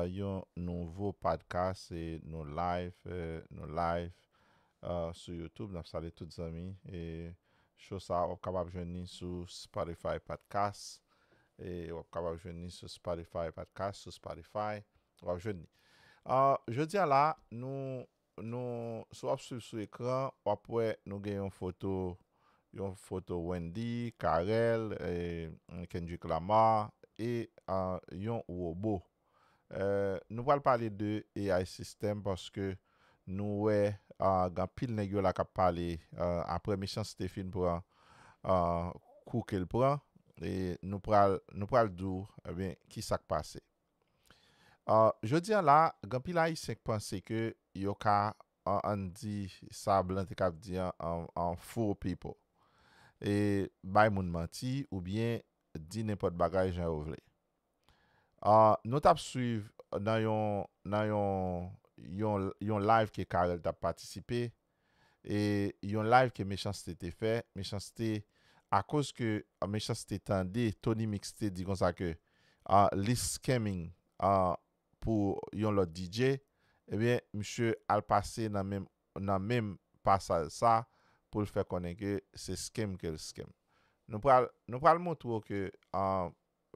yon nouvo podcast e nou live nou live sou youtube nap salye tout zanmi e show sa wap kapab jwenn ni sou spotify podcast e wap kapab jwenn ni sou spotify podcast sou spotify wap jwenn ni jodi a la nou Nou si wap swiv sou ekran wap wè nou gen yon foto yon foto Wendy, Carel, Kendrick Lamar e yon robo. Nou pral pale de AI system paske nou wè gen anpil nèg yo la kap pale aprè mechanst te fin pran kou kel pran e nou pral nou pral di w ebyen kisak pase. Jodi a la, gen anpil Ayisyen k panse ke yo ka, an n di, sa blan te kab di an, fool people. E bay moun manti oubyen di nenpòt bagay jan yo vle. Nou t ap swiv nan yon, nan yon, yon live ke Carel t ap patisipe, e yon live ke mechanste te fè mechanste akoz ke mechanste tande Tony mix te di konsa ke li scamming pou yon lòt DJ ebyen misye al pase nan menm nan menm pasaj sa poul fè konnen ke se scam kel scam nou pral nou pral montre w ke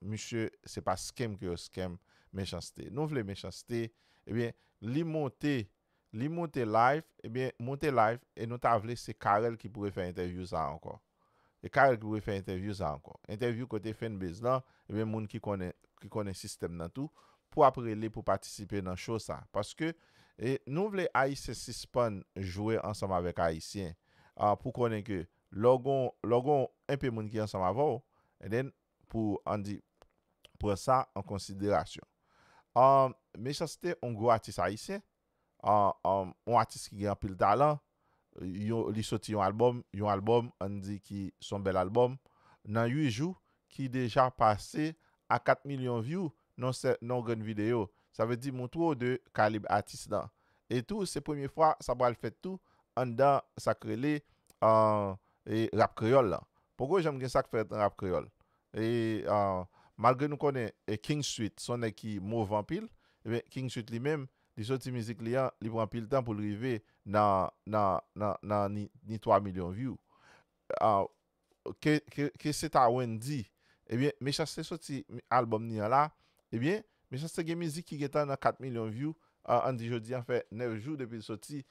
Misye se pa scam ke yo scam mechanste nou vle mechanste ebyen li monte li monte live ebyen monte live e nou ta vle se carel ki pou refè entèvyou sa ankò e carel ki pou refè entèvyou sa ankò entèvyou kote fanbase lan ebyen moun ki konnen ki konnen sistèm nan tou pou ap rele pou patisipe nan show sa paske e nou vle ayisyen sispann jwe ansanm avèk ayisyen a pou konnen ke lè w gon lè w gon enpe moun ki ansanm avè w and then pou an di pran sa an konsiderasyon ahh mechanste on gwo atis ayisyen ahh on atis ki gen anpil talan yo li soti yon album yon album an di ki son bèl album nan 8 jou ki deja pase a 4 milyon vyou non sè non grenn video sa vle di montre w de kalib atis lan e tou se premye fwa sa pral fèt tou anndan sak rele ahh E rap kreyòl lan. Poko janm gen sak fèt nan rap kreyòl. E malgre nou konnen King Sweet son nèg ki move anpil, ebyen King Sweet li menm li soti mizik li an li pran anpil tan poul rive nan nan nan nan ni ni 3 milyon view. Ke ke ke se ta Wendy, ebyen Mechanste soti album ni an la, ebyen Mechanste gen mizik ki gentan nan 4 milyon view, an di jodi an fè 9 jou depil soti,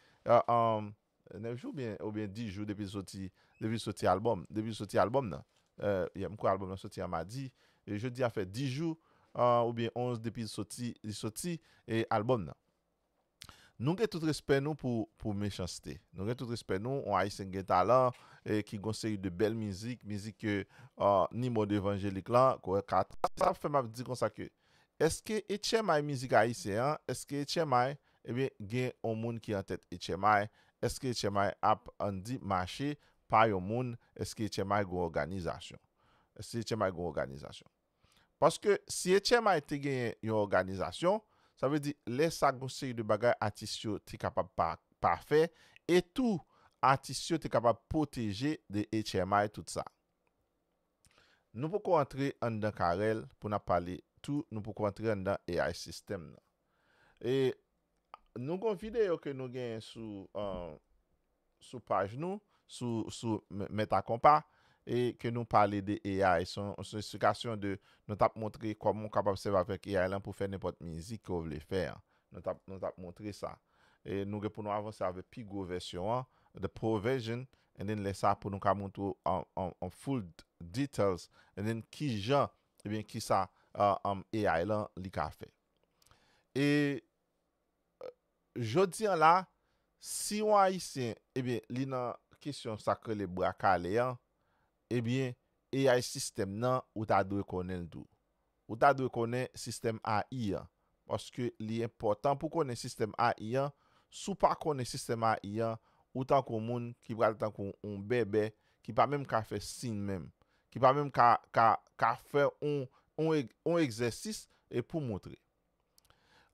9 jou byen ou byen 10 jou depi soti depi soti album depi soti album nan yè m kwè album nan soti a madi jodi a fè 10 jou ou byen 11 depi l soti li soti album nan nou gen tout respè nou pou pou mechans-t nou gen tout respè nou on ayisyen ki gen talan ki gon seri de bèl mizik mizik ke ni mond evanjelik lan k wè ka sa k fè m ap di konsa ke èske etchèmay mizik ayisyen an èske etchèmay Ebyen gen on moun ki an tèt HMI, eske HMI ap ann di mache pa yon moun, eske HMI gon òganizasyon? Eske HMI gon òganizasyon? Paske si HMI te genyen yon òganizasyon, sa vle di lè sa gon seri de bagay atis yo te kapab pa pa fè e tou atis yo te kapab pwoteje de HMI tout sa. Nou poko antre anndan Carel pou n ap pale tou nou poko antre anndan ai system nan. E Nou gon video ke Nou genyen sou sou paj Nou sou sou met a konpa e ke Nou pale de AI son esplikasyon de Nou tap montre koman ou kapab sèvi avèk AI lan pou fè nenpòt mizik ke ou vle fè an Nou tap Nou tap montre sa e Nou gen pou Nou avanse avèk pi gwo vèsyon an the pro version and then lè sa pou Nou ka montre ou an full details and then kijan ebyen kisa AI lan li ka fè. E jodi an la, si yon Ayisyen, ebyen, li nan kesyon sa k rele bra kale an, ebyen, AI sistèm nan, ou ta dwe konnen l tou. Ou ta dwe konnen sistèm AI an. Paske li enpòtan pou konnen sistèm AI an. Si w pa konnen sistèm AI an, ou tankou moun ki pral tankou yon bèbè ki pa menm ka fè siy menm. Ki pa menm ka ka ka fè on on on egzèsis e pou montre.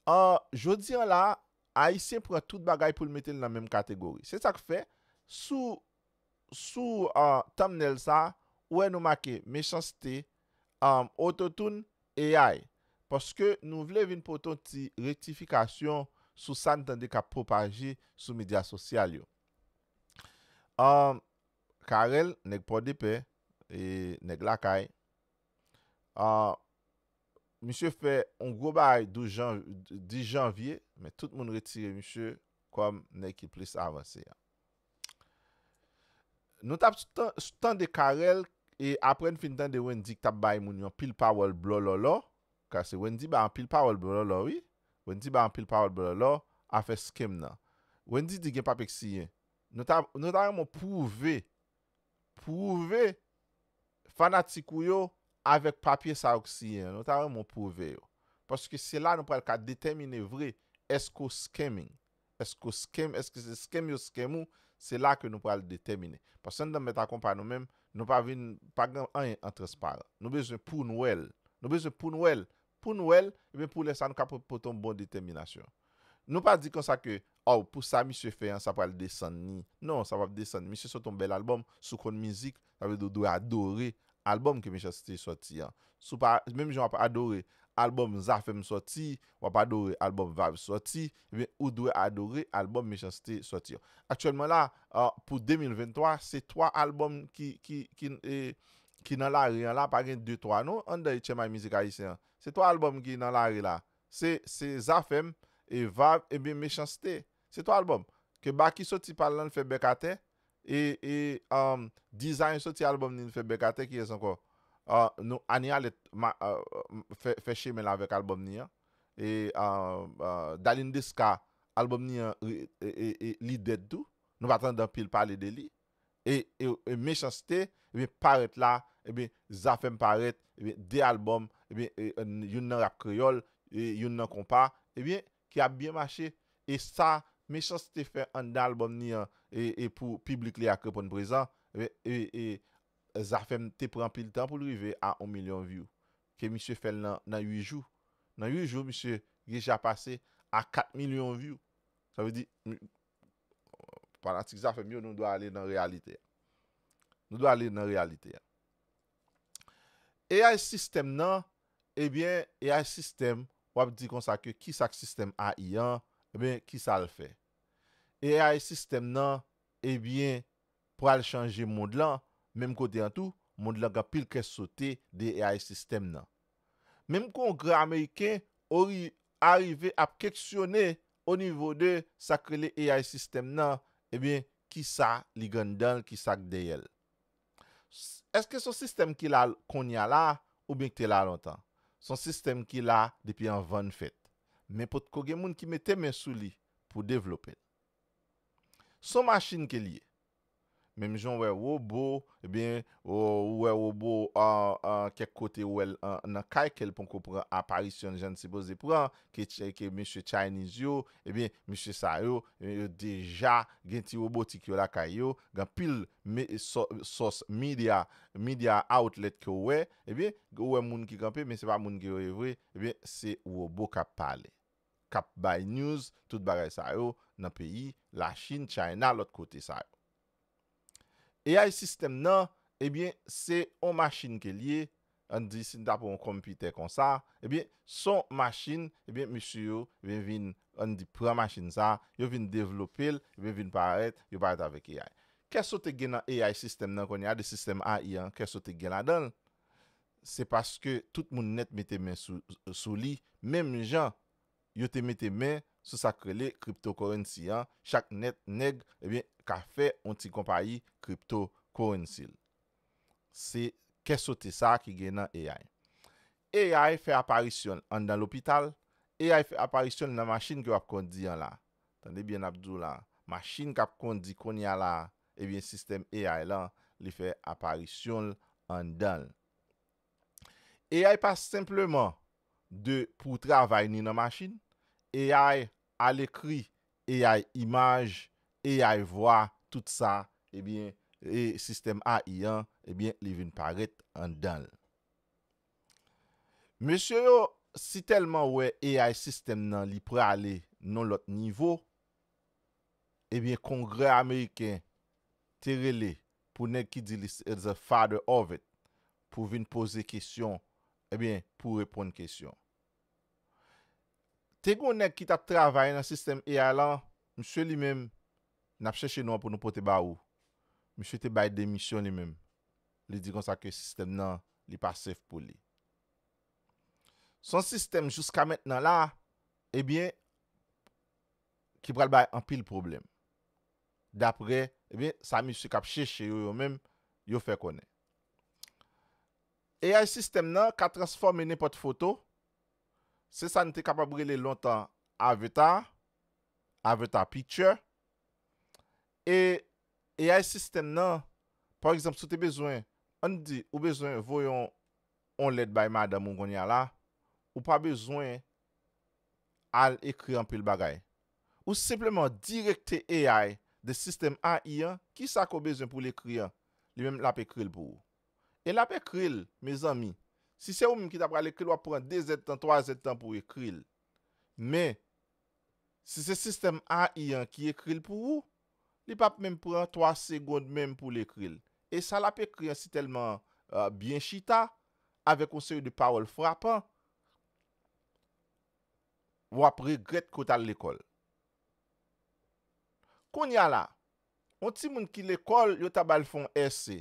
An, jodi an la a, Ayisyen pran tout bagay pou l mete l nan menm kategori. Se sa k fè, sou sou a thumbnail sa a, ou wè nou make Mechanste, a Ototoun, AI. Paske nou vle vin pote on ti rektifikasyon sou sa n tande k ap pwopaje sou medya sosyal yo. A Carel nèg pòdepè nèg lakay ahh misye fè yon gwo bagay 12 jan 10 janvye men tout moun retire misye kòm nèg ki plis avanse an nou tap tande Carel e aprè n fin tande Wendy k tap bay moun yon pil pawòl blòlòlò ka se Wendy bay anpil pawòl blòlòlò wi Wendy bay anpil pawòl blòlòlò afè skem nan Wendy di gen papye k siyen Nou ta nou ta renmen w pwouve pwouve fanatik ou yo avèk papye sa yo k siyen an nou ta renmen w pwouve yo paske se la nou pral ka detèmine vre èske w scamming èske w scam èske se scam yo scam ou se la ke nou pral detèmine paske anndan mèt a konpa nou menm nou pa vin pa gen anyen an transparan nou bezwen pou n wè l nou bezwen pou n wè l Pou n wè l, ebyen pou lè sa nou ka pot pote yon bon detèminasyon. Nou pa di konsa ke, Aww, pou sa misye fè an, sa pral desann ni. Non, sa pap desann. Misye sot yon bèl albòm, si w konn mizik, sa vle di w dwe adore albòm ke Mechanste sòti an. Si w pa, menm jan w ap adore albòm Zafèm sòti, w ap adore albòm Vayb sòti, ebyen ou dwe adore albòm Mechanste sòti an. Aktyèlman la, pou 2023, se 3 albòm ki, ki, ki, e, ki nan lari an la pa gen de twa non anndan etchèmay mizik ayisyen an se twa albòm ki nan lari la se se zafèm e vav ebyen mechanste se twa albòm ke baky soti pal lan l fè bèk atè e e um dizany soti albòm ni l fè bèk atè kiyès ankò uh nou aniyalèt ma uh fè fè chemen l avèk albòm ni an e uh uh dalin deska albòm ni an e e e li dèd tou nou pa tande anpil pale de li e e mechanste ebyen parèt la ebyen zafèm parèt ebyen 2 album ebyen youn nan rap kreyòl e youn nan konpa ebyen ki ap byen mache e sa mechanste fè anndan album ni an e e pou piblik li a k reponn prezan ebyen e e zafèm te pran anpil tan poul rive a 1 milyon view ke misye fèl nan nan 8 jou nan 8 jou misye deja pase a 4 milyon view sa vle di Fanatik Zafem yo nou dwe ale nan reyalite a. Nou dwe ale nan reyalite a. AI system nan, ebyen AI system wap di konsa ke kisak system AI an, ebyen kisal fè. AI system nan, ebyen pral chanje mond lan, menm kote an tou, mond lan gen pil kè sote de AI system nan. Menm kongrè ameriken ori arive ap keksyone O nivo de sa k rele AI system nan, ebyen kisa li gen anndan l, kisa k dèyè l? S, Èske s on sistèm ki la konnya la oubyen k te la lontan? S on sistèm ki la depi anvan n fèt, men potko gen moun ki mete men sou li pou devlope l. S on machin ke l ye. Menm jan w wè wobo, ebyen ou wè wobo kèk kote ou wè l nan kay ke l ponko pran aparisyon l jan l sipoze pran, ke mesye Chinese yo, ebyen mesye sa yo, yo deja gen ti robotik yo lakay yo, gen anpil sòs media, media outlet ke w wè, ebyen ou wè moun ki kanpe men se pa moun ke yo ye vre, ebyen se wobo kap pale. kap bay news tout bagay sa yo nan peyi la chine china lot kote sa yo AI system nan ebyen se on machine ke liye an di sin ta pran on computè konsa ebyen son machine ebyen mesye yo ebyen vin an di pran machine sa yo vin devlopel ebyen vin parèt yo parèt avek AI kè sote gen nan AI system nan konnya de system AI an kè sote gen ladanl se paske tout moun nèt mete men sou li menm jan yo te mete men sou sa k rele cryptocurrency an chak nèt nèg ebyen ka fè on ti konpayi crypto currency l se kè sote sa ki gen nan AI AI fè aparisyon l anndan lopital AI fè aparisyon l nan machin ke w ap kondi an la tande byen n ap di w la machin k ap kondi kounye a la Ebyen sistèm AI lan li fè aparisyon l anndan l. AI pa senpleman de pou travay ni nan machin, AI alekri, AI imaj, AI vwa, tout sa ebyen e sistèm AI an ebyen li vin parèt anndan l. Mesye yo si tèlman wè AI sistèm nan li prale non lòt nivo, Ebyen kongrè ameriken te rele pou nèg ki di li se the father of it pou vin poze kesyon ebyen pou reponn kesyon. Te gon nèg ki tap travay nan sistèm AI lan, misye li menm nap chèche non an pou nou pote ba ou, misye te bay demisyon li menm, li di konsa ke sistèm nan li pa safe pou li. Son sistèm jouska mentnan la ebyen. ki pral bay anpil pwoblèm, daprè ebyen sa mesye k ap chèche yo yo menm yo fè konnen. AI sistèm nan ka transfòme nenpòt foto, se sa n te kapab rele lontan avatar, avatar picture, e AI sistèm nan, pa egzanp si w te bezwen, an n di ou bezwen voye yon lèt bay madanm ou kounya la, ou pa bezwen al ekri anpil bagay. Ou senpleman direkte AI de sistèm AI an ki sa ke w bezwen pou l ekri an, li menm l ap ekri l pou ou. E l ap ekri l, mezanmi, si se ou menm ki ta pral ekri l w ap pran dezèdtan, twazèdtan pou w ekri l. Men, si se sistèm AI an ki ekri l pou ou, li p ap menm pran twa segond menm pou l ekri l. E sa l ap ekri an si tèlman byen chita, avèk yon seri de pawòl frapan, wap regrèt ke w t al lekòl. Kounye a la, yon timoun ki lekòl yo ta ba l fè yon èse,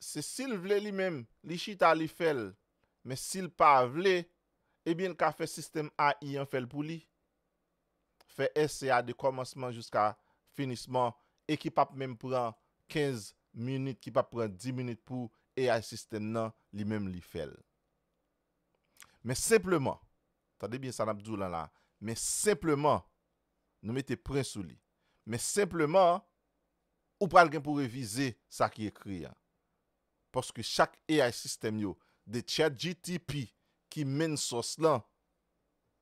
se si l vle li menm li chita li fè l, men si l pa vle, ebyen l ka fè sistèm AI an fè l pou li. fè èse a de kòmansman jiska finisman e ki pap menm pran 15 minit ki pap pran 10 minit pou ai sistèm nan li menm li fèl men senpleman tande byen sa nap diw lan la men senpleman nou mete pwen sou li men senpleman ou pral gen pou revize sa ki ekri an paske chak ai sistèm yo de chatgtp ki menn sòs lan.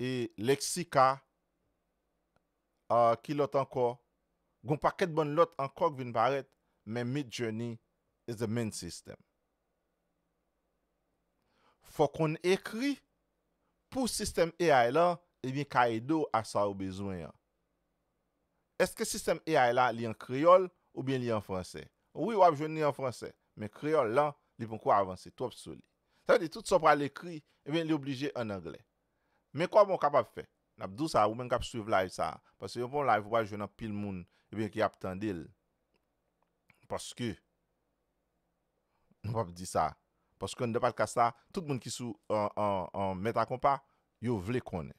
E Lexica, ahh ki lòt ankò? Gen yon pakèt bann lòt ankò k vin parèt men Midjourney is the main system. Fò w konn ekri pou sistèm ai la ebyen ka ede w a sa ou bezwen an. Eske sistèm ai la li an kreyòl oubyen li an fransè? Wi w ap jwenn li an fransè men kreyòl lan li poko avanse twòp sou li. Sa vle di tout sa w pral ekri, ebyen li oblije an anglè. Men kòman w kapab fè? N ap di w sa, ou menm k ap suiv live sa a, paske yon bon live ou pral jwenn anpil moun, ebyen ki ap tande l. Paske, nou p ap di sa, paske anndan Padkas la, tout moun ki sou Mèt a Konpa, yo vle konnen.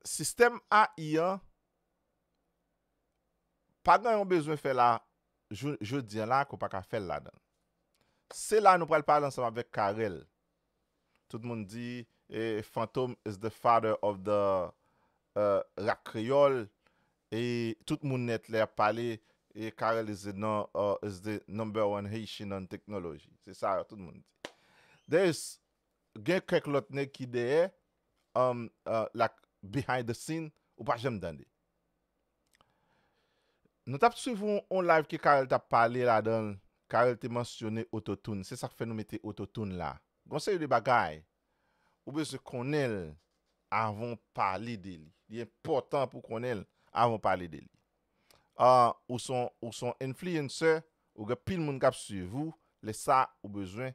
Sistèm AI an, Pa gen yon bezwen fè la jou jodi an la ke w pa ka fè l ladan l. Se la nou pral pale ansanm avèk Carel. Tout moun di e Fantom is the father of the uh rap kreyòl e tout moun nèt lè y ap pale e Carel is the non uh is the number one Haitian on technology. Se sa tout moun di. There is Gen kèk lòt nèg ki dèyè um like behind the scene ou pa janm tande. Nou tap swiv yon live ke Carel tap pale ladanl Carel te mansyone autotune se sak fè nou mete autotune la. Gon seri de bagay ou bezwen konnenl avan w pale de li. Li enpòtan pou konnenl avan w pale de li. Uh ou son ou son influencer ou gen pil moun kap swiv ou lè sa ou bezwen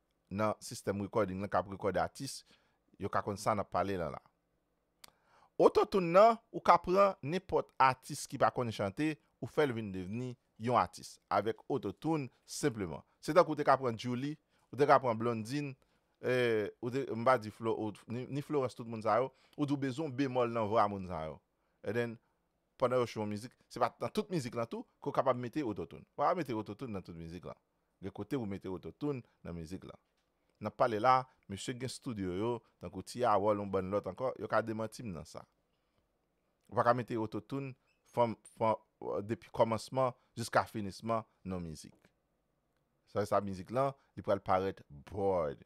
nan sistèm recording lan kap rekòde atis yo ka konn sa nap pale lan la. Autotune nan ou ka pran nenpòt atis ki pa konn chante ou fèl vin devni yon atis avèk autotune senpleman. Se tankou ou te ka pran Djouly, ou te ka pran Blondine, eh ou te m pa di Flo ou ni Florence tout moun sa yo, ou di ou bezwen yon bemòl nan vwa moun sa yo. And then pandan yo chwe yon mizik, se pa nan tout mizik lan tou ke ou kapab mete autotune. Ou pa ka mete autotune nan tout mizik lan. Gen kote ou mete ototoun nan mizik lan. Nap pale la, mesye gen studio yo, tankou Ti Harold yon bann lòt ankò, yo ka demanti m nan sa. Ou pa ka mete ototoun from from depi kòmansman jiska finisman nan mizik. Sa vle sa mizik lan li pral parèt bored.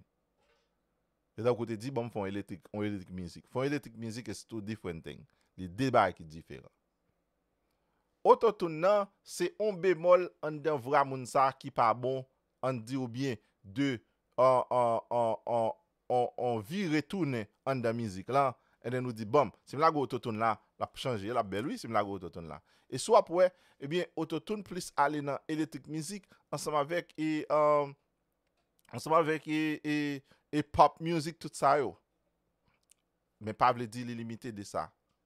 Se tankou ou te di banm fè yon eletrik, yon eletrik mizik. Fè yon eletrik mizik is two different thing. Li de bagay ki diferan. Ototoun nan se on bemòl anndan vra moun sa ki pa bon ann di ou byen de on on on on on on vire tounen anndan mizik lan anndan nou di banm si m lage ototoun la l ap chanje l ap bèl wi si m lage ototoun la e si w ap wè ebyen ototoun plis ale nan eletrik mizik ansanm avèk e anm ansanm avèk e e e pop mizik tout sa yo men pa vle di li limite de sa.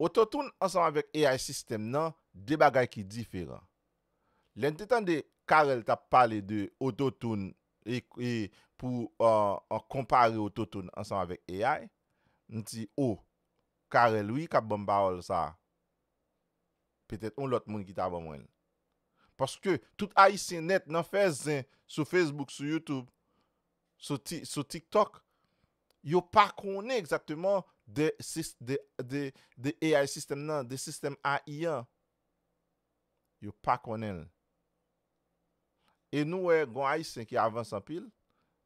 Autotune ansanm avèk AI system nan 2 bagay ki diferan. Lè n te tande Carel tap pale de Autotune e pou konpare Autotune ansanm avèk AI, m di oh Carel wi kap banm pawòl sa. Petèt yon lòt moun ki ta ban mwen l. Paske tout Ayisyen nèt nan fè zen sou Facebook, sou YouTube, sou tiktok yo pa konnen egzakteman de ai sistèm nan de sistèm ai an yo pa konnen l e nou wè gon ayisyen ki avans anpil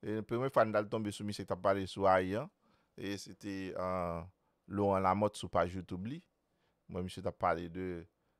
e premye fwa n t al tonbe sou misye k t ap pale sou ai an e se te Laurent Lamothe sou paj youtube li m wè misye t ap pale de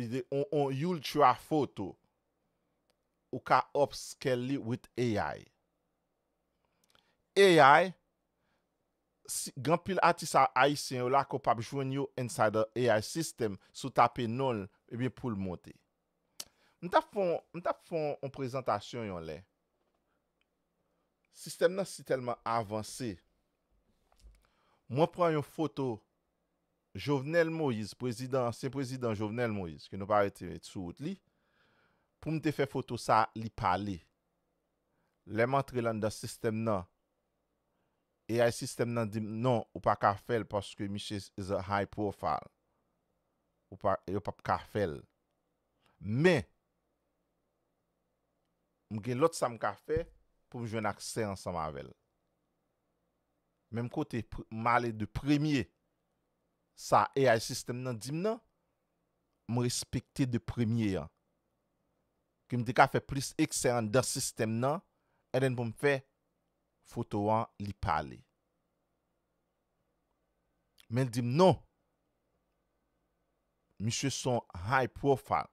Li te on on ultra photo. Ou ka upscale li with AI. AI, si gen anpil atis a ayisyen yo la ke w pap jwenn yo inside the AI system si w tape non l ebyen pou l monte. M tap fon m tap fon on prezantasyon yon lè. Sistèm nan si tèlman avanse. Mwen pran yon foto. Jovenel Moïse prezidan ansyen prezidan Jovenel Moïse ke nou pa rete sou wout li poum te fè foto sa li pale lèm antre l anndan sistèm nan ai sistèm nan dim non ou pa ka fèl paske misye is a high profile ou pa yo pap ka fèl men m gen lòt sam ka fè poum jwenn aksè ansanm avèl. Menm kote m ale de premye sa AI system nan di m nan, m respekte de premye an. Ke m te ka fè plis eksè anndan sistèm nan and then pou m fè foto an li pale. Men l di m non, misye s on high profile.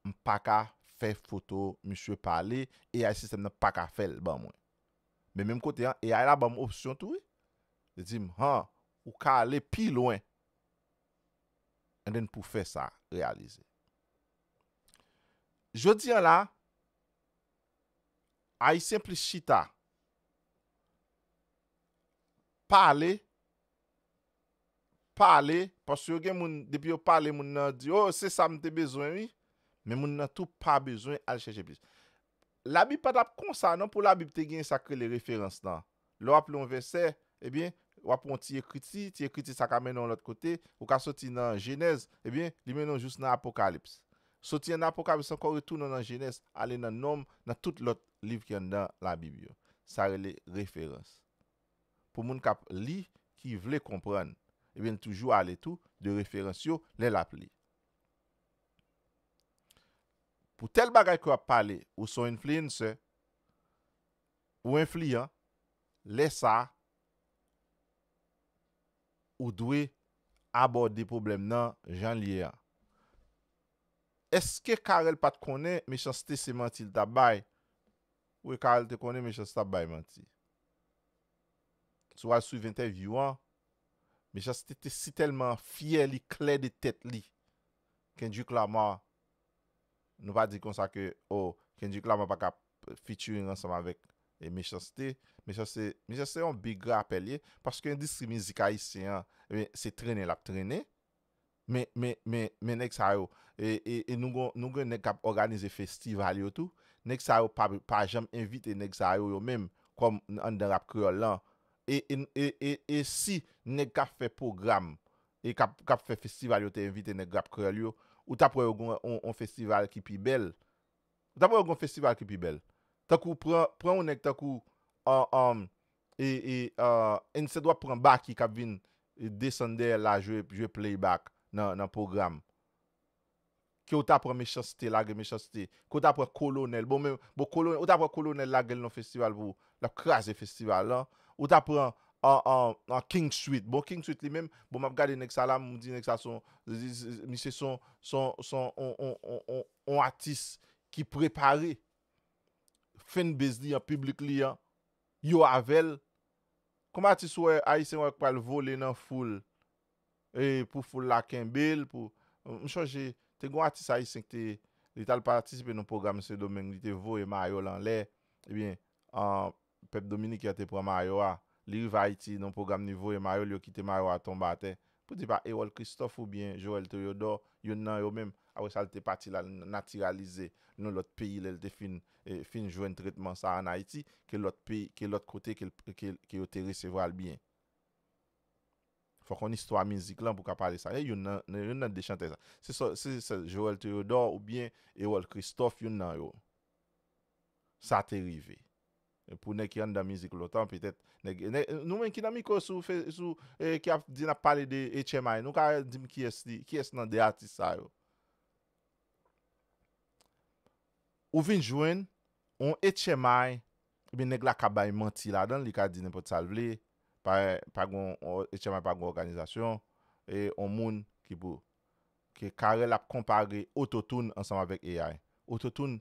M paka fè foto misye pale, ai sistèm nan paka fèl ban mwen. Men menm kote an ai la banm opsyon tou wi. Li dim han ou ka ale pi lwen and then pou fè sa reyalize. Jodi an la Ayisyen plis chita pale pale paske yo gen moun depi yo pale moun nan di oh se sa m te bezwen wi men moun nan tou pa bezwen al chèche plis labib pa tap konsa non pou labib te gen sak rele referans lan lè wap li yon vèsè ebyen wap pran yon ti ekriti ti ekriti sa ka mennen w yon lòt kote ou ka soti nan jenèz ebyen li mennen w jous nan apokalips soti an nan apokalips ankò retounen w nan jenès ale nan nonm nan tout lòt liv ki anndan labib yo sa rele referans pou moun k ap li ki vle konprann, ebyen l toujou ale tou de referans yo lè l ap li. Pou tèl bagay ke w ap pale, ou s on influencer, ou enfliyan, lè sa a, ou dwe abòde pwoblèm nan jan l ye an. Eske Carel pa t konnen mechanste se manti l t ap bay Wi Carl te konnen Mechanste ap bay manti. Si w al swiv entèvyou an, Mechanste te si tèlman fyè li klè de tèt li. Kendrick Lamar, nou pa di konsa ke oh Kendrick Lamar pa ka featuring ansanm avèk Mechanste. Mechanste, Mechanste se yon big rapè li ye, paske endistri mizik ayisyen an, se trennen l ap trennen. Men men men men nèg sa yo e e e nou gon nou gen nèg kap òganize festival yo tou nèg sa yo pa pa janm envite nèg sa yo yo menm kòm anndan rap kreyòl lan e e e e e si nèg kap fè pwogram e kap kap fè festival yo te envite nèg rap kreyòl yo ou tap wè yo gon on on festival ki pi bèl ou tap wè yo gon festival ki pi bèl tankou pran pran on nèg tankou an an E e ahh instead wap pran Baky kap vin desann dèyèl la jwe jwe playback nan nan program kew ta pran mechanste lage mechanste kew ta pran kolonèl bon men bon kolonèl ou ta pran kolonèl lagel nan festival pou lap kraze festival lan ou ta pran ahh king sweet bon king sweet li menm bon map gade nèg sa la m di nèg sa son misye son son son on on on on on atis ki prepare fanbase li an piblik li an Yo avèl Kom atis wè ayisyen wè pral vole nan foul e pou foul la kenbel pou m chonje te gon atis ayisyen ki te li tal patisipe nan pwogram sendomeng li te voye mayo l anlè ebyen pèp dominiken an te pran mayo a li rive ayiti nan pwogram li voye mayo l yo kite mayo a tonbe atè Pou di pa Erol Christophe ou byen Joel Theodore youn nan yo menm apre sa li te pati lal natiralize nou lòt peyi lè li te fin fin jwenn tretman sa an Ayiti ke lòt peyi ke lòt kote ke ke yo te resevwal byen. Fòk on istwa mizik lan pou ka pale sa. E youn nan youn nan de chantè sa. Se sò se sè Joel Theodore ou byen Erol Christophe youn nan yo sa te rive. Pou nèg ki anndan mizik lontan petèt nèg nou menm ki nan mikro sou sou ki ap di nap pale de HMI nou ka dim kiyès li kiyès nan 2 atis sa yo ou vin jwenn yon HMI ebyen nèg la ka bay manti ladan li ka di nenpòt sal vle pa gon HMI pa gon òganizasyon e yon moun ki pou ke Carel ap konpare Auto-Tune ansanm avèk AI Auto-Tune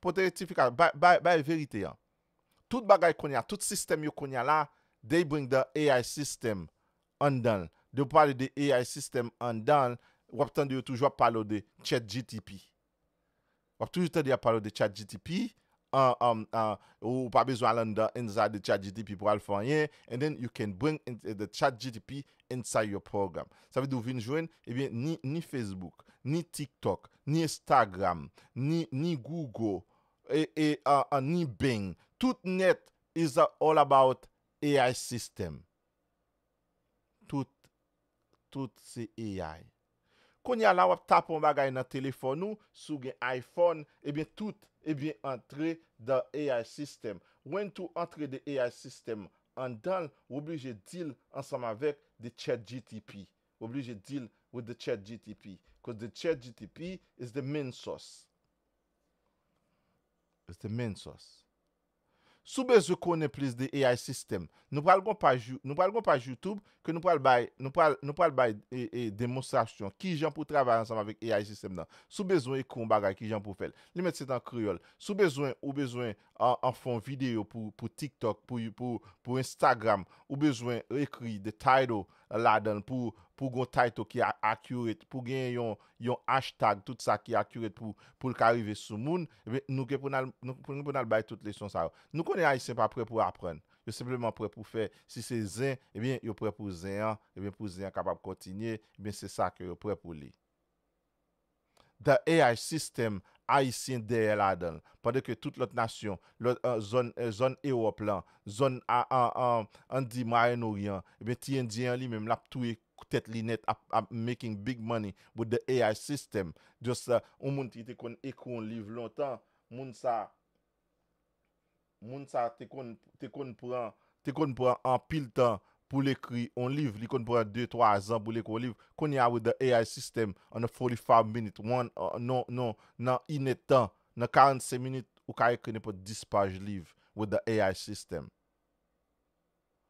Pote rektifikasyon, bay, bay, bay verite an. Tout bagay kounye a, tout sistèm yo kounye a la, they bring the ai system anndan l. Yo pale de ai system anndan l, w ap tande yo toujou ap pale w de chatgtp. W ap toujou tande y ap pale w de chatgtp, an, an, an, ou pa bezwen al anndan, inside, de chatgtp pou al fè anyen, and then you can bring the chatgtp inside your program. Sa vle di ou vin jwenn, ebyen ni ni Facebook, ni TikTok, ni Instagram, ni ni Google, e e a ni Bing, tout nèt is all about AI system. Tout tout se AI. Kounye a la wap tape yon bagay nan telefòn ou, si w gen iPhone, ebyen tout, ebyen antre dan ai system. Wen tou antre de ai system anndan l, w oblije di l ansanm avèk de chatgtp. W oblije di l with the chatgtp, cause the chatgtp is the main source. Is the main source. Si w bezwen konnen plis de AI system, nou pral gon paj nou pral gon paj YouTube ke nou pral bay nou pral nou pral bay demonstrasyon kijan pou travay ansanm avèk AI system nan. Si w bezwen ekri yon bagay kijan pou w fè l. Li mèt se t an kreyòl. Si w bezwen ou bezwen an fè yon videyo pou pou TikTok pou pou pou Instagram ou bezwen ekri the title ladan l pou pou gon title ki accurate pou gen yon yon hashtag tout sa ki accurate pou poul ka rive sou moun ebyen nou gen pou nal nou gen pou nal bay tout leson sa yo nou konnen ayisyen pa prè pou aprann yo senpleman prè pou fè si se zen ebyen yo prè pou zen an ebyen pou zen an kapab kontinye ebyen se sa ke yo prè pou li the ai system ayisyen dèyè ladanl pandan ke tout lòt nasyon lòt zòn zòn ewòp lan zòn a an an an di mwayennoryan ebyen ti endyen an li menm lap touye k tèt linèt ap ap making big money with the AI system just yon moun ki te konn ekri yon liv lontan moun sa moun sa te konn te konn pran te konn pran anpil tan pou l ekri yon liv li konn pran 2 3 zan pou l ekri yon liv kounye a with the AI system on a 45 minutes one non non nan inèdtan nan 45 minit ou ka ekri nenpòt 10 paj liv with the AI system.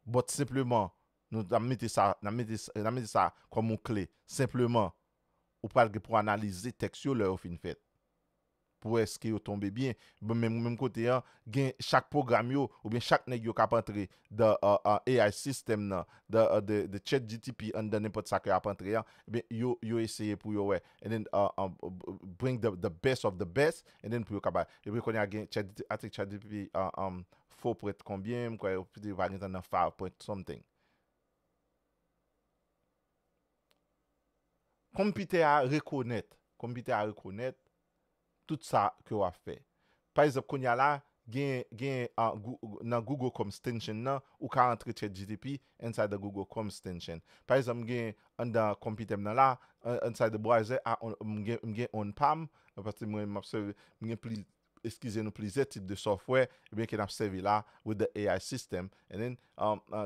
But senpleman nou nan mete sa nan mete sa nan mete sa kòm yon kle senpleman ou pral gen pou analize tèks yo lè yo fin fèt pou wè eske yo tonbe byen bon menm menm kote an gen chak pwogram yo oubyen chak nèg yo kap antre dan AI system nan dan the chatgtp anndan nenpòt sa ke yap antre an ebyen yo yo eseye pou yo wè and then bring the best of the best and then pou yo ka bay epi kounye a gen chatgtp i think chatgtp Faux print konbyen m kwè yo pa gen tan nan faux print something. Konpitè a rekonèt, konpitè a rekonèt tout sa ke w ap fè. Pa egzanp kounye a la gen gen nan Google Chrome extension nan ou ka antre chatgtp inside the Google Chrome extension. Pa egzanp m gen anndan konpitè m nan la inside the browser m gen m gen on pa m paske mwen m ap sèvi m gen plis eskize nou plizyè tip de software ebyen ke nap sèvi la with the AI system and then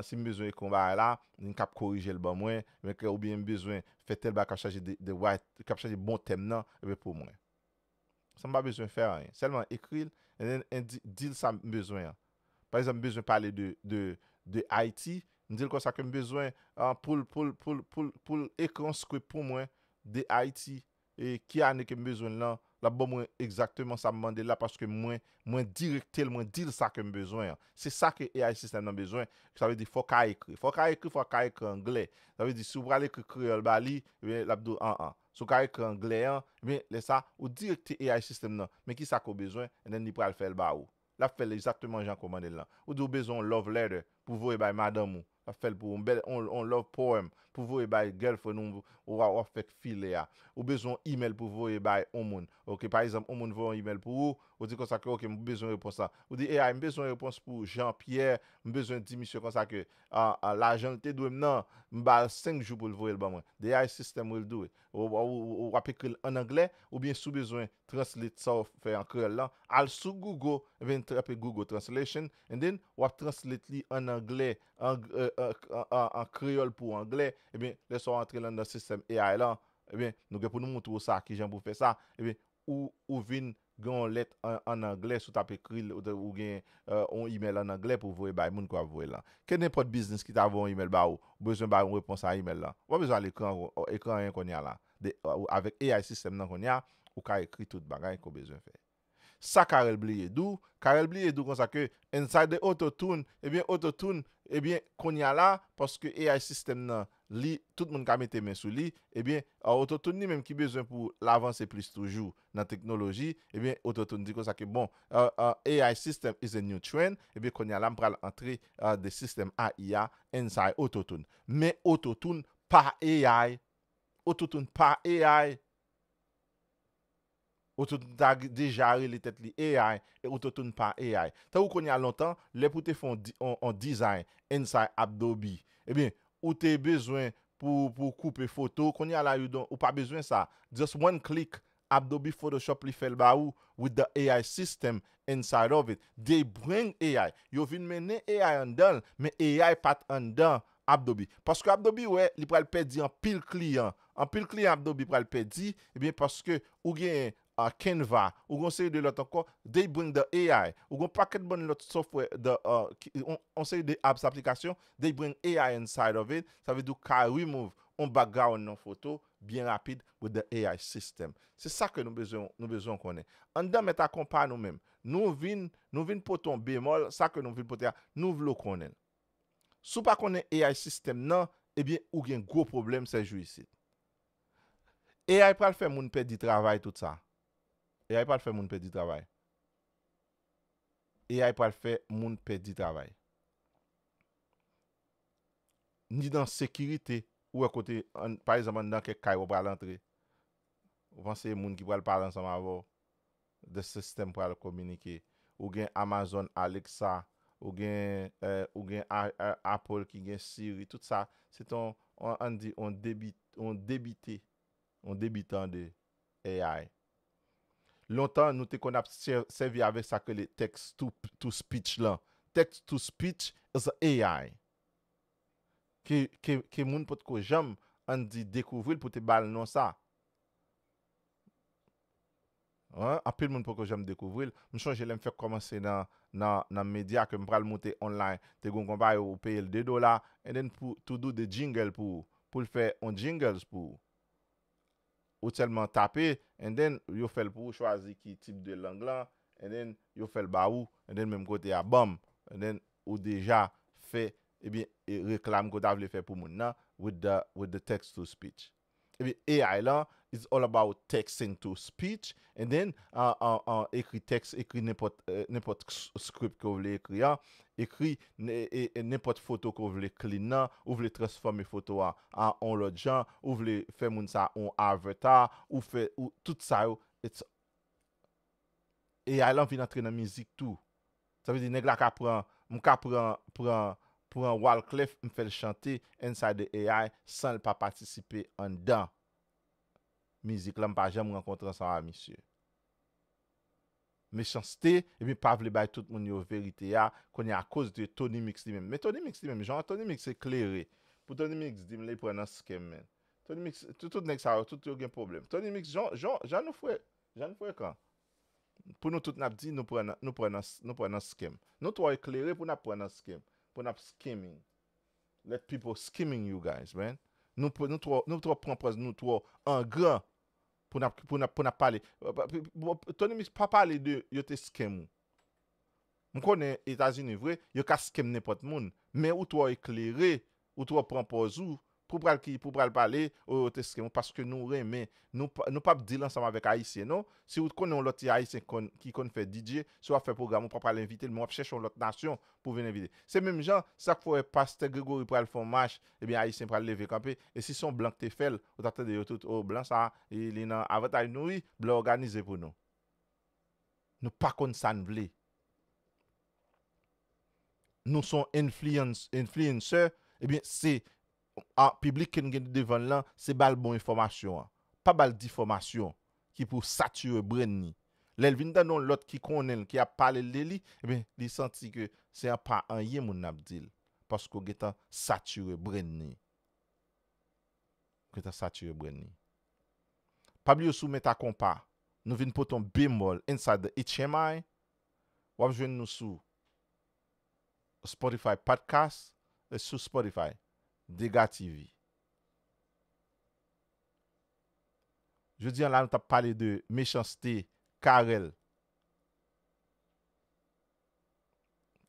si m bezwen ekri yon bagay la li kap korije l ban mwen oubyen m bezwen fè tèl bagay kap chaje the right kap chaje bon tèm nan ebyen pou mwen sa m pa bezwen fè anyen sèlman ekri l and then and then di l sa m bezwen an pa egzanp m bezwen pale de de de Ayiti m di l konsa ke m bezwen poul poul poul poul poul ekri yon script pou mwen de Ayiti. e ki ane kem bezwen l lan lap ban mwen egzakteman sam mandel la paske mwen mwen direktel mwen dil sa kem bezwen an se sa ke ai sistèm nan bezwen sa vle di fòw ka ekri fòw ka ekri fòw ka ekri anglè sa vle di si ou pral ekri kreyòl ba li ebyen lap di w an an si w ka ekri anglè an ebyen lè sa ou direkte ai sistèm nan men kisa ke w bezwen and then li pral fèl ba ou lap fèl exactement jan komandel lan ou di ou bezwen yon love letter pou voye bay madanm ou lap fèl pou ou yon bèl yon love poem pou voye bay girlfriend ou ou wap fè k file a ou bezwen yon email pou voye bay yon moun ok pa egzanp yon moun voye yon email pou ou ou di konsa ke ok m bezwen repons lan ou di AI m bezwen repons pou Jean Pierre m bezwen di misye konsa ke ahh lajan l te dwe m nan m bal 5 jou pou l voye l ban mwen the ai system will do it ou wap ekri l an anglè oubyen si w bezwen translate sa w fè an kreyòl lan, al sou Google epi tape Google translation and then wap translate li an anglè an kreyòl pou anglè ebyen lè sa w antre l anndan sistèm AI lan ebyen nou gen pou nou moutre w sa kijan pou w fè sa ebyen ou ou vin gen yon lèt an anglè si w tap ekri l ou gen yon email an anglè pou w voye bay moun ke wap voye l lan kenenpòt biznis ki ta voye yon email ba ou ou bezwen bay yon repons a email lan ou pa bezwen al ekri anyen kounye a la Avèk AI system nan kounye a, ou ka ekri tout bagay ke w bezwen fè. Sa Carel bliye di w, Carel bliye di w konsa ke inside the auto tune, ebyen auto tune, ebyen kounye a la, paske AI system nan, li, tout moun ka mete men sou li, ebyen auto tune li menm ki bezwen pou l avanse plis toujou nan teknoloji, ebyen auto tune di konsa ke bon, AI system is a new trend, ebyen kounye a la m pral antre the system AI a inside auto tune. Men auto tune pa AI Ou toutoun pa AI, ou toutoun ta deja rele tèt li AI e ou toutoun pa AI. Tankou kounya lontan, lè pou te fè yon dizay inside Adobe, ebyen ou te bezwen pou koupe foto, kounya la you don't, ou pa bezwen sa, just one click Abdobi photoshop li fèl ba ou with the AI system inside of it. They bring AI. Yo vin mennen AI anndanl men AI pat anndan Abdobi. Paske Abdobi wè li pral pèdi anpil kliyan. Anpil kliyan Abdobi pral pèdi ebyen paske ou genyen Canva, ou gen yon seri de lòt ankò they bring the AI. Ou gen yon pakèt bann lòt software the yon seri de apps aplikasyon they bring AI inside of it. Sa vle di ou ka remove yon background nan foto byen rapid with the AI system. Se sa ke nou bezwen nou bezwen w konnen. Anndan mèt a konpa nou menm, nou vin nou vin pote yon bemòl, sa ke nou vin pote a, nou vle w konnen l. Si w pa konnen AI system nan, ebyen ou gen gwo pwoblèm sè jou isit. AI pral fè moun pèdi travay tout sa. AI pral fè moun pèdi travay. AI pral fè moun pèdi travay. ni nan sekirite, ou wè kote an, pa egzanp anndan kèk kay wap pral antre, ou panse e moun ki pral pale ansanm avèw, de sistèm pral kominike, ou gen Amazon Alexa, ou gen eh, ou gen a a Apple ki gen Siri, tout sa se te yon, an di yon debi, yon debite, yon debitan de. AI. Lontan nou te konn ap sèvi avèk sa k rele text to speech lan. Text to speech is a AI ke moun potko janm ann di dekouvri l pou te ba l non sa. Anpil moun poko janm dekouvri l. M sonje lè m fèk kòmanse nan medya ke m pral moute online, te gen yon konpayi ou peye l 2 dola and then to do the jingle pou ou, pou l fè yon jingles pou ou. Ou selman tape and then yo fel pou ou chwazi ki tip de lang lan and then yo fel ba ou and then menm kote a banm and then ou deja fè ebyen reklam ke ou ta vle fè pou moun nan with the with the text to speech. Ebyen AI lan is all about texting to speech And then ekri text ekri nenpòt nenpòt script ke w vle ekri a ekri nenpòt foto ke w vle clean nan ou vle transfòme foto a a on lòt jan ou vle fè moun sa on avatar ou fè ou tout sa yo it's AI lan vin antre nan mizik tou sa vle di nèg la ka pran m ka pran pran pran Walclef m fè l chante inside the AI san l pa patisipe anndan. mizik la mpa janm rankontre ansanm a misye. Mechanste ebyen pa vle bay tout moun yo verite a kounye a koz de Tony mix li menm men Tony mix li menm jan Tony mix eklere pou Tony mix dim li pran nan scam menn Tony mix tout nèg sa yo tout yo gen pwoblèm Tony mix jan jan jan nou fre jan nou frekan pou nou tout nap di nou pran nan nou pran nan nou pran nan scam nou twò eklere pou nap pran nan scam pou nap scamming. Let people scheming you guys man nou p nou trò nou trò pran pòz nou trò angran pou nap pou nap pou nap pale Tony mix pa pale de yo te scam ou m konnen etazini vre yo ka scam nenpòt moun men ou trò eklere ou trò pran pòz ou pou pral ki pou pral pale oh yo te scam ou paske nou renmen nou p nou pap deal ansanm avèk ayisyen non si ou t konnen yon lòt ti ayisyen k konn ki konn fè DJ si wap fè pwogram ou pa pral envitel men wap chèche yon lòt nasyon pou vin envite. Se menm jan, sa k fè w wè pastè Grégory pral fè yon mach, ebyen Ayisyen pral leve kanpe, e si se yon blan k te fè l, ou t ap tande yo tout, o, blan sa a, li nan avantay nou wi, blan òganize pou nou. Nou pa konn sa n vle. Nou se yon influencer, ebyen se A. Piblik ke n gen devan n lan, se ba l bon enfòmasyon an. Pa ba l difòmasyon ki pou satire brenn ni. Lè l vin tande yon lòt ki konnen l ki ap pale l de li, enben, li santi ke se an pa anyen moun nan ap di l, paske w gen tan satire brenn ni. Ou gen tan satire brenn ni. Pa bliye sou Meta Konpa, nou vin pote yon bemòl Inside the HMI. W ap jwenn nou sou. Spotify Podcast e sou Spotify Degatv Jodi an la nou tap pale de mechanste Carel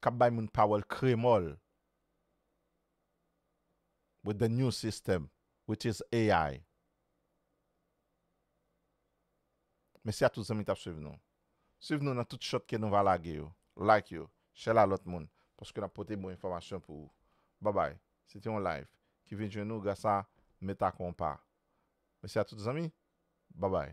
kap bay moun pawòl kremòl with the new system which is AI Mèsi a tout zanmi ki tap swiv nou. Swiv nou nan tout shot ke nou va lage yo, like yo, share la lòt moun, paske nap pote bon enfòmasyon pou ou. Babay, se te yon live ki vin jwenn ou gras a Meta Konpa. Mesi a tout zanmi. Babay.